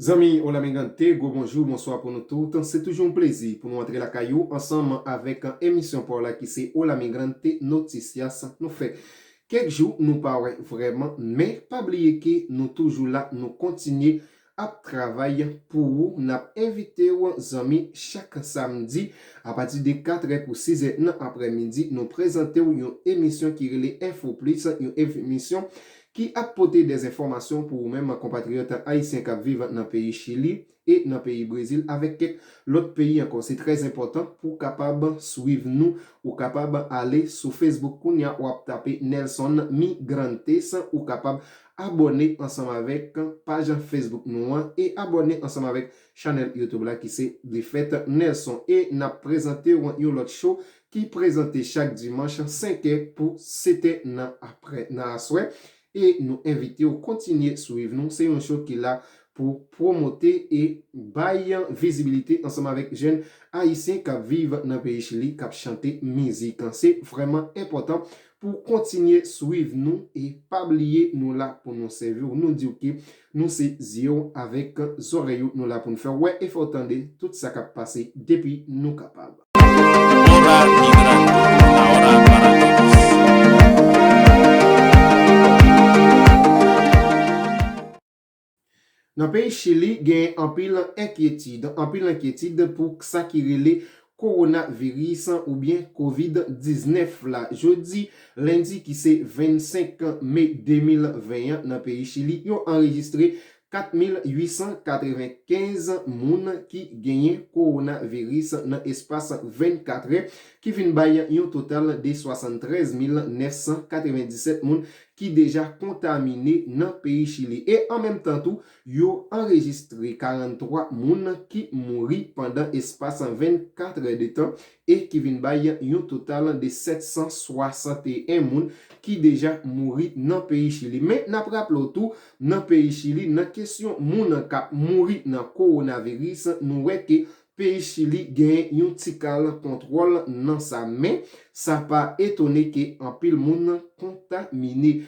Zanmi Hola mi gente, gwo bonjou, bonswa pou nou tout. Se toujou yon plezi pou nou antre lakay ou ansanm avèk emisyon pa w la ki se Hola mi gente noticias nou fè kèk jou nou pa wè vrèman men pa bliye ke nou toujou la nou kontinye ap travay pou ou n ap envite w zanmi chak samdi apati de katrè kou sizè nan aprèmidi nou prezante w yon emisyon ki rele Info Plus yon emisyon ki ap pote dezenfòmasyon pou ou menm konpatriyòt ayisyen k ap viv nan peyi Chili e nan peyi Brezil avèk kèk lòt peyi ankò. Se trè enpòtan pou w kapab swiv nou. Ou kapab ale sou Facebook kounye a, w ap tape Nelson Migrantes, ou kapab abòne ansanm avèk paj Facebook nou an e abòne ansanm avèk chanèl YouTube la ki se Defèt Nelson. E n ap prezante w yon lòt show ki prezante chak dimanch 5 è pou 7 è nan aprè nan aswè e nou envite w kontinye swiv nou se yon show ki la pou pwomote e bay vizibilite ansanm avèk jèn ayisyen kap viv nan peyi chili kap chante mizik se vrèman enpòtan pou kontinye swiv nou e pa bliye nou la pou nou sèvi w nou di w ke nou se zye w avèk zòrèy ou nou la pou n fè w wè e fè w tande tout sa kap pase depi nou kapab. Nan peyi Chili genyen anpil enkyetid, anpil enkyetid pou sa ki rele Kowonaviris oubyen Kovid 19 la. Jodi lendi ki se 25 me 2020 an nan peyi Chili yo anrejistre 4,895 moun ki genyen kowonaviris nan espas 24 è, ki vin bay yon total de 73,997 moun ki deja kontamine nan peyi Chili. E an menm tan tou, yo anrejistre 43 moun ki mouri pandan espas 24 è de tan, e ki vin bay yon total de 761 moun ki deja mouri nan peyi Chili. Men, n ap raple w tou, nan peyi Chili, nan kesyon moun k ap mouri nan kowonaviris, nou wè ke peyi Chili genyen yon ti kal kontwòl nan sa. Men, sa pa etone ke anpil moun kontamine.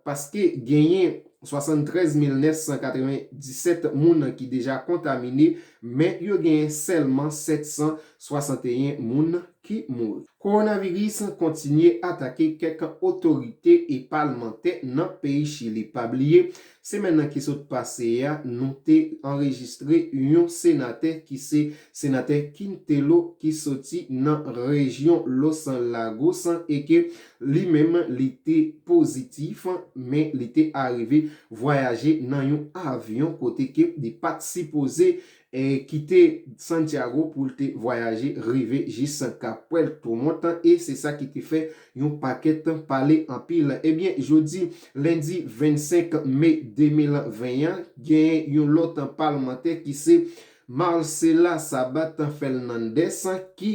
paske genyen 73997 moun ki deja kontamine men yo genyen sèlman 761 moun ki mouri. Kowonaviris kontinye atake kèk otorite e palmantè nan peyi Chili. Pa bliye, semèn nan ki sot pase a, nou te anrejistre yon senatè ki se senatè Quintelo ki soti nan rejyon Los Lagos e ke Li menm li te pozitif, men li te arive vwayaje nan yon avyon kote ke li pat sipoze kite Santiago pou l te vwayaje rive jis Kap Puerto Montt e se sa ki te fè yon pakèt pale anpil. Ebyen jodi lendi 25 me 2020 an, gen yon lòt palmantè ki se Marcela Sabat Fernandez ki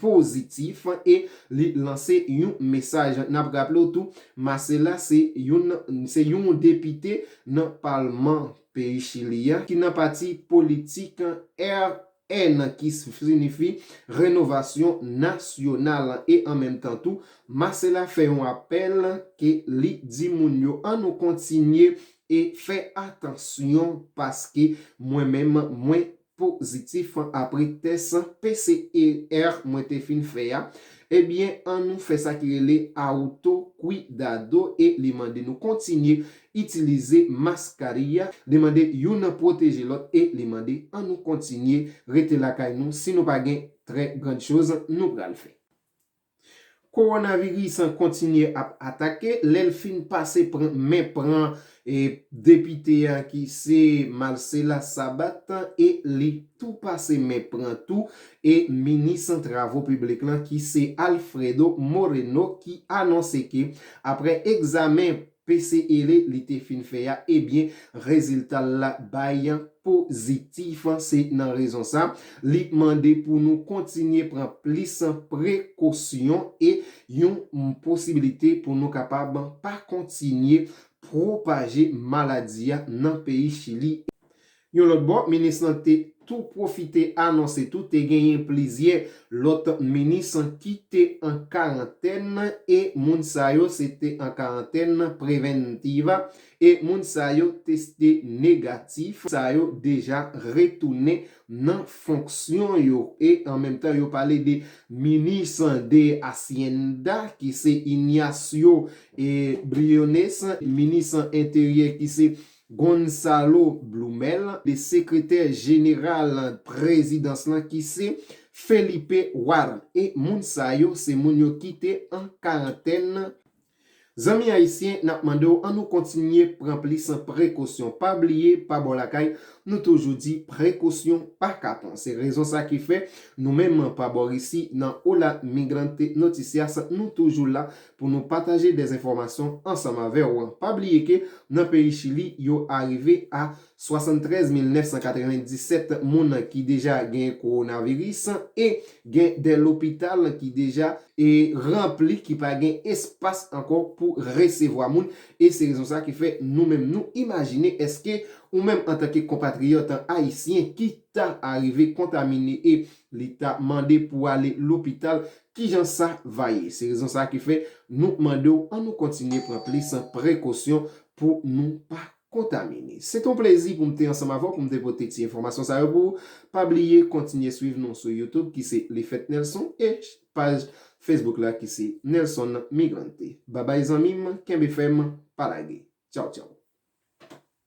pozitif e li lanse yon mesaj. N ap raple w tou, Marcela se youn se yon depite nan palman peyi Chili a ki nan pati politik RN ki sinifi Renovasyon Nasyonal e an menm tan tou Marcela fè yon apèl ke li di moun yo an nou kontinye E fè atansyon paske mwen menm mwen pozitif apre tès PCR mwen te fin fè a, ebyen an nou fè sa ki rele auto cuidado e li mande nou kontinye itilize mascarilla, li mande youn pwoteje lòt e li mande an nou kontinye rete lakay nou si nou pa gen trè grand chose nou pral fè. Kowonaviris an kontinye ap atake, lè l fin pase pran men pran depite a ki se Marcela Sabat e li tou pase men pran tou e minis travo piblik lan ki se Alfredo Moreno ki anonse ke aprè egzamen PCL li te fin fè ya ebyen reziltal la bay pozitif se nan rezon sa li mande pou nou kontinye pran plis prekosyon e yon posibilite pou nou kapab pa kontinye pwopaje maladi ya nan peyi chili Yon lòt bò, minis lan te tou pwofite anonse tou te genyen plizyè lòt minis ki te an karantèn e moun sa yo se te an karantèn preventiva e moun sa yo teste negatif, sa yo deja retounen nan fonksyon yo e an menm tan yo pale de minis de Hacienda ki se Ignacio Briones, minis enteryè ki se Gonzalo Blumel, de sekretè jeneral prezidans lan ki se Felipe Warren. E moun sa yo se moun yo ki te an karantèn. Zanmi ayisyen nap mande w an nou kontinye pran plis prekosyon pa bliye pa bò lakay nou toujou di prekosyon pa kapon se rezon sa ki fè nou menm pa bò risi nan Hola Migrante Noticias nou toujou la Pou nou pataje dè enfòmasyon ansanm avè w. Pa bliye ke nan peyi Chili yo arive a 73997 moun ki deja gen kowonaviris e gen dè lopital ki deja e ranpli ki pa gen espas ankò pou resevwa moun e se rezon sa ki fè nou menm nou imajine eske ou menm antanke konpatriyòt ayisyen ki ta arive kontamine e li ta mande pou ale lopital Kijan sa va ye? Se rezon sa ki fè nou mande w an nou kontinye pran plis prekosyon pou nou pa kontamine. Se te yon plezi pou m te ansanm avè w pou m te pote ti enfòmasyon sa yo pou ou. Pa bliye kontinye swiv nou sou YouTube ki se Lifetnelson e paj Facebook la ki se Nelson Migrante. Babay zanmi m, kenbe fèm, pa lage. Tchaw tchaw.